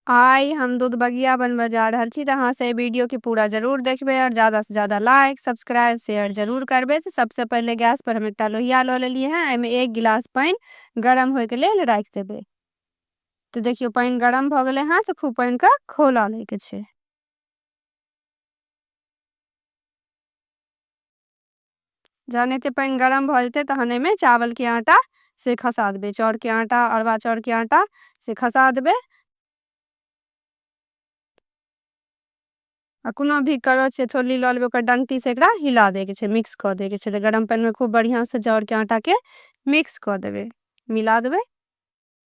आइ हम दूध बगिया बनबऽ जा रहल छी तऽ अहाँ से एहि वीडियो के पूरा जरूर देखबै आओर ज्यादा से ज्यादा लाइक सब्सक्राइब शेयर जरूर करबै तऽ सबसे पहिले गैस पर हम एकटा लोहिया लऽ लेलियै हैं एहिमे एक गिलास पानि गरम होय के लेल राखि देबै तऽ देखियौ पानि गरम भऽ गेलै हैं तऽ खूब पानि के खौला लै के छै। जहन एते पानि गरम भऽ जेतै तहन एहिमे चावलके आटा से खसा देबै चाउरके आटा अरबा चाउरके आटा से खसा देबै आ कोनो भी करछ या छोलनी लऽ लेबै ओकर डंटीसँ एकरा हिला दैके छै मिक्स कऽ दैके छै तऽ गरम पानिमे खूब बढ़िआँसँ चाउरके आटाके मिक्स कऽ देबै मिला देबै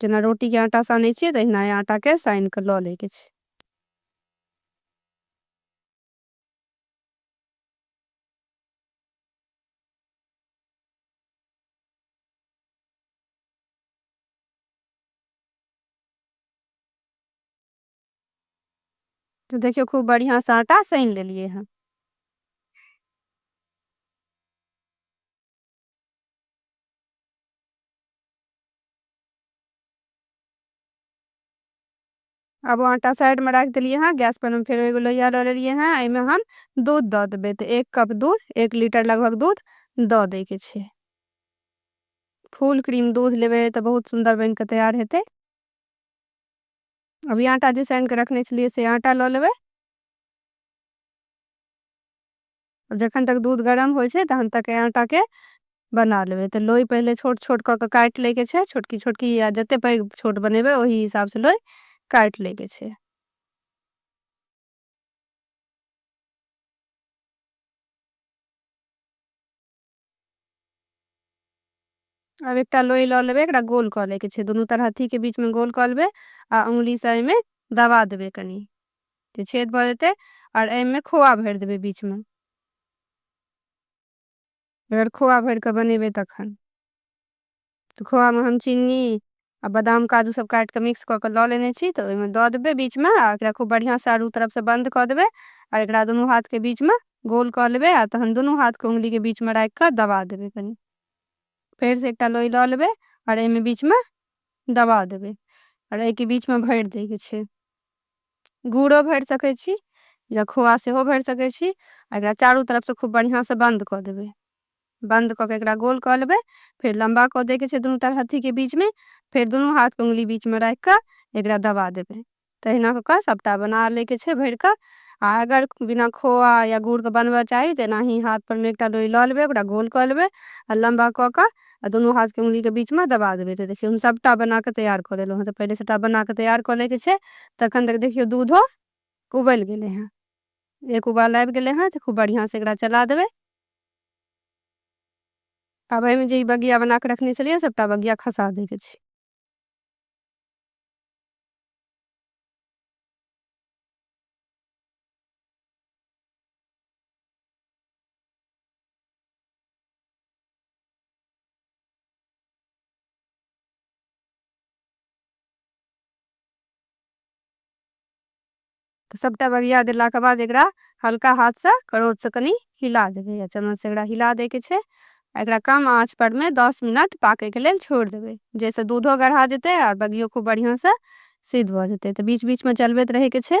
जेना रोटी के आटा साने छिए तहिना ए आटा के साइन के ल ले के छै। तो देखियो खूब बढ़िया से आटा साइन ले लिए हैं। अब आटा साइड में रख दिलिए हाँ गैस पर हम फिर एगो लोहिया लो लिए हैं एहिमे हम दूध दऽ देबै तऽ एक कप दूध एक लीटर लगभग दूध दऽ दैके छै फुल क्रीम दूध लेबै तऽ बहुत सुन्दर बनि कऽ तैयार हेतै अभी आटा जे सानि कऽ रखने छलियै से आटा लऽ लेबै जखन तक दूध गरम होइ छै तहन तक ऐ आटा के बना लेबै तऽ लोई पहिले छोट छोट कऽ कऽ काटि लैके छै छोटकी छोटकी या जतेक पैघ छोट बनेबै ओहि हिसाबसँ लोई काटि लैके छै आब एकटा लोई लऽ लेबै एकरा गोल कऽ ले के छै दुनू तरह हथी के बीच में गोल कऽ लेबै आ उंगली से एहिमे दबा देबै कनि तऽ छेद भऽ जेतै आओर एहिमे खोआ भरि देबै बीच में अगर खोआ भरि कऽ बनेबै तखन तऽ खोआमे हम चीनी आ बादाम काजू सब काटि कऽ मिक्स कऽ कऽ लऽ लेने छी तऽ ओहिमे दऽ देबै बीचमे आ एकरा खूब बढ़िआँ चारू तरफसँ बन्द कऽ देबै आ एकरा दुनू हाथके बीचमे गोल कऽ लेबै आ तहन दुनू हाथके उंगलीके बीचमे राखि कऽ दबा देबै कनि फेरसँ एकटा लोई लऽ लेबै आओर एहिमे बीचमे दबा देबै आओर एहिके बीचमे भरि दैके छै गुड़ो भरि सकै छी या खोआ सेहो भरि सकै छी आ एकरा चारू तरफसँ खूब बढ़िआँसँ बन्द कऽ देबै बन्द कऽ कऽ एकरा गोल कऽ लेबै फेर लम्बा कऽ दैके छै दुनू टा हथीके बीचमे फेर दुनू हाथके उंगली बीचमे राखि कऽ एकरा दबा देबै तहिना कऽ कऽ सभटा बना लैके छै भरि कऽ आ अगर बिना खोआ या गुड़के बनबऽ चाही तऽ एनाही हाथपर मे एकटा लोई लऽ लेबै ओकरा गोल कऽ लेबै आ लम्बा कऽ कऽ आ दुनू हाथके उंगलीके बीचमे दबा देबै तऽ देखियौ हम सभटा बना कऽ तैयार कऽ लेलहुँ हँ तऽ पहिले सभटा बना कऽ तैयार कऽ लैके छै तखन तक देखियौ दूधो उबलि गेलै हँ एक उबाल आबि गेलै हँ तऽ खूब बढ़िआँसँ एकरा चला देबै आब एहिमे जे ई बगिया बना कऽ रखने छलियै सभटा बगिया खसा दैके छै तऽ सबटा बगिया देलाके बाद एकरा हल्का हाथसँ करोचसँ कनि हिला देबै या चम्मचसँ एकरा हिला दैके छै एकरा कम आँच पर मे दस मिनट पाकैके लेल छोड़ि देबै जाहिसँ दूधो गढ़ा जेतै आओर बगियो खूब बढ़िआँसँ सिद्ध भऽ जेतै तऽ बीच बीचमे चलबैत रहैके छै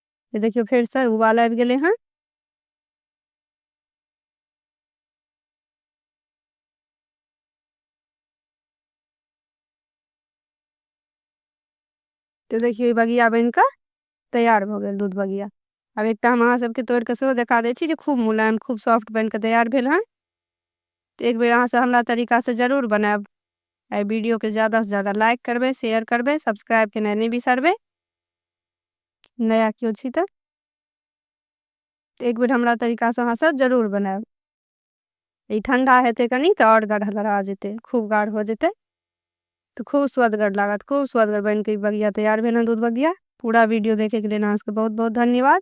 ये देखियो फिर से उबाल आबि गेले हैं तो देखियो ये बगिया बन के तैयार भ गए दूध बगिया अब एक हम अहाँ सबके तोड़ के सेहो देखा दे छी खूब मुलायम खूब सॉफ्ट बन के तैयार भेल हैं तो एक बेर अहाँ से हमरा तरीका से जरूर बनायब वीडियो के ज्यादा से ज्यादा लाइक करबे शेयर करबे सब्सक्राइब के नहीं बिसरबे नया केओ छी तऽ एक बेर हमरा तरीकासँ अहाँ सब जरूर बनायब ई ठंडा हेतै कनि तऽ आओर गढ़गढ़ा जेतै खूब गाढ़ हो जेतै तऽ खूब स्वदगर लागत खूब स्वदगर बनि कऽ ई बगिया तैयार भेल हँ दूध बगिया पूरा वीडियो देखैके लेल अहाँ सबके बहुत बहुत धन्यवाद